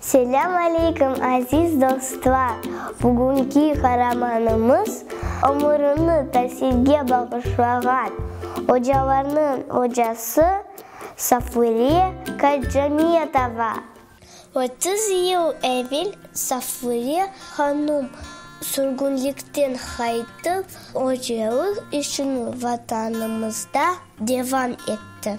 Selâm aleyküm, aziz dostlar! Bugünki qaramanımız, ömürini tasilge bağışlağan ocalarnıñ ocası Safuriye Kajjamiyetova. Otuz yıl evel Safuriye hanım sürgünlikten qaytıp, ocalıq işini Vatanımızda devam etti.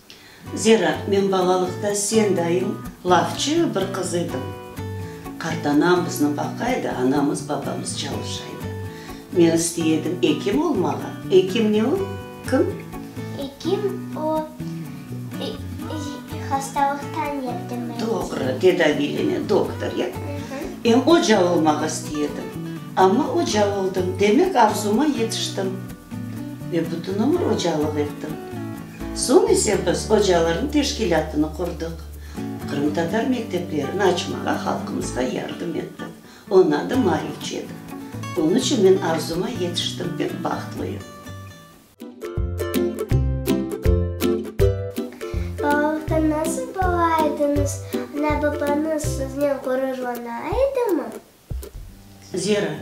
Zera, men balalıqta sen dayıñ lafçı bir qız edim. Qartanam bizni baqaydı, anamız, babamız çalışaydı. Men istey edim ekim olmağa. Ekim ne o? Kim? Ekim o, hastalıqtan yerdemlenici. Doğru, tedaviylene, doktor, ya? Em oca olmağa istey edim. Amma oca oldım, demek arzuma yetiştim. Ve bütün ömür ocalıq ettim. Soñ ise biz ocalarnıñ teşkilâtını qurdıq. Qırımtatar mekteplerini açmağa halqımızğa yardım ettik. Onıñ adı Marifçi edi. Onıñ içün men arzuma yetiştim, pek bahtlıyım. Balalıqta nasıl bala ediñiz? Ana-babañız siznen ğururlana edimi? Zera,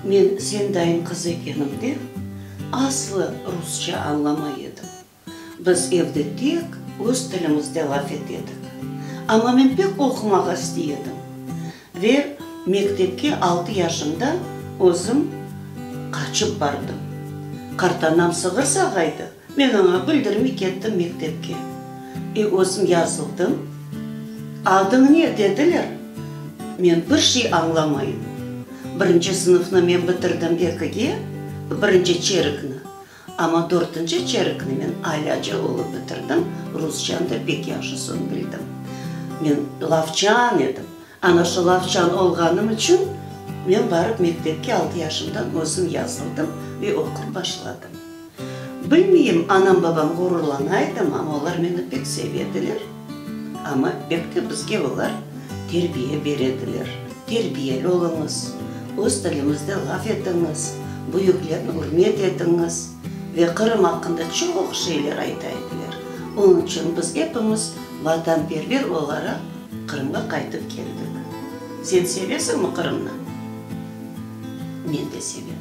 men sen dayın qızı ekenimde, aslı rusça añlamay edim. Biz evde tek öz tilimizde laf ete edik. Amma men pek oqumağa istey edim ve mektepke altı yaşımda özüm qaçıp bardım. Qartanam sığır sağaydı. Men oña bildirmey kettim mektepke. E, özüm yazıldım. Adıñ ne? dediler. Men bir şey añlamayım. Birinci sınıfnı men bitirdim ekige, birinci çerekni. Amma dörtünci çerekni men alâca olıp bitirdim, rusçanı da pek yahşı soñ bildim. Men lavçan edim. Ana şu lavçan olğanım içün men barıp mektepke altı yaşımdan özüm yazıldım ve oqup başladım. Bilmeyim, anam-babam ğururlana edim, amma olar meni pek sevediler. Amma pek de bizge olar terbiye berediler, terbiyeli oluñız, öz tilimizde laf etiñiz, büyüklerni ürmet etiñiz, ve Qırım aqqında çoq şeyler ayta ediler. Onıñ içün biz epimiz vatanperver olaraq Qırımğa qaytıp keldik. Sen sevesiñmi Qırımnı? Men de sevem.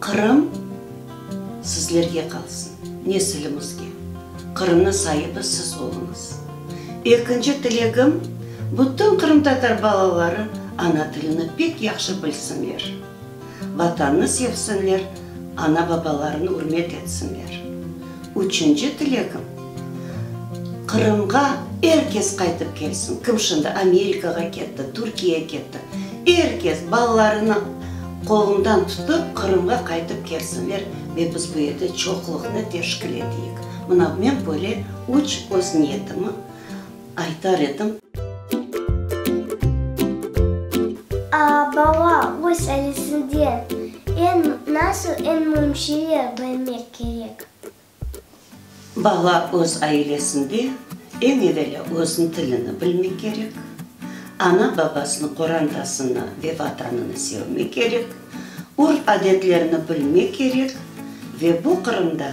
Qırım sizlerge qalsın, nesilimizge. Qırımnıñ saibi siz oluñız. Ekinci tilegim, bütün qırımtatar balaları ana tilini pek yahşı bilsinler, Vatanını sevsinler, ana-babalarını ürmet etsinler. Üçünci tilegim, Qırımğa er kes qaytıp kelsin. Kim şimdi Amerikağa ketti, Türkiye ketti, er kes balalarını qolundan tutıp Qırımğa qaytıp kelsinler ve biz bu yerde çoqluqnı teşkil eteyik. Mına men böyle üç öz niyetimi. aytar edim. A, bala, öz ailesinden eñ nasıl eñ müim şeyler bilmek kerek? Bala öz ailesinde eñ evelâ özüñ tilini bilmek kerek, ana, babasını, qorantasını ve vatanını sevmek kerek, urf-adetlerini bilmek kerek ve bu Qırımda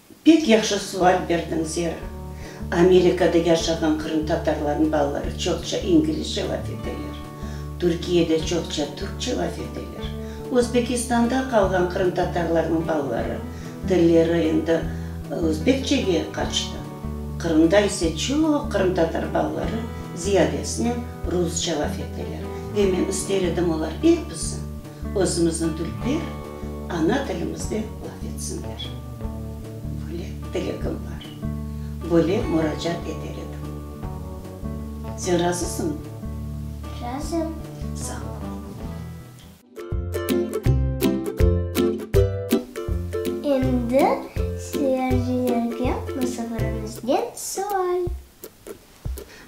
Pek yahşı sual berdiñ, Zera. Amerikada yaşağan qırımtatarlarnıñ balaları çoqça inglizce laf eteler, Türkiyede çoqça türkçe laf eteler. Özbekistanda qalğan qırımtatarlarnıñ balaları tilleri endi özbekçege qaçtı. Qırımda ise çoq qırımtatar balaları ziyadesinen rusça laf eteler ve men ister edim, olar episi. Özümizniñ Türkler ana tilimizde laf etsinler. Böyle tilegim bar. Böyle muracaat eter edim. Sen razısıñmı? Razım. Sağ ol. Endi seyircilerge musavırımızden sual.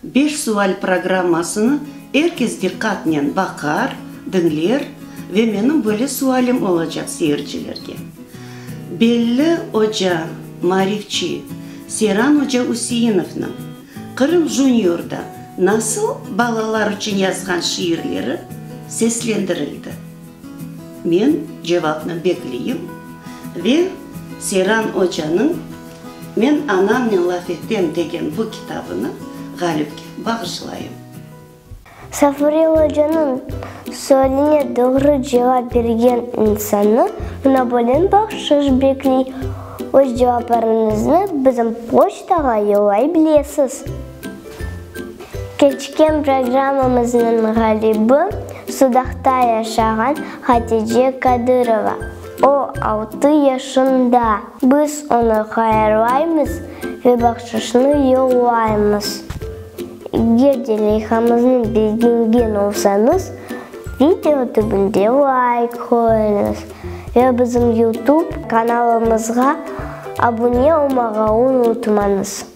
Beş sual programmasını er kes diqqatnen baqar, diñler ve menim böyle sualim olacaq seyircilerge. Belli oca, marifçi Seyran oca Üseinovnıñ Qırım Juniorda nasıl balalar içün yazğan şiirleri seslendirildi? Men cevapnı bekleyim ve Seyran ocanıñ Men anamnen laf etem degen bu kitabını Ğalipke bağışlayım. Safurel ocanıñ sualine doğru cevap bergen insannı Monopolin bahşış bekley. Öz cevaplarıñıznı bizim poçtağa yollay bilesiz. Keçken programmamıznıñ ğalibi, Sudaqta yaşağan Hatice Kadırova. O, altı yaşında. Biz onı hayırlaymız ve bahşışnı yollaymız. Eger de leyhamıznı begengen olsañız, video tübünde layk qoyuñız ve bizim YouTube kanalımızğa abune olmağa unutmañız.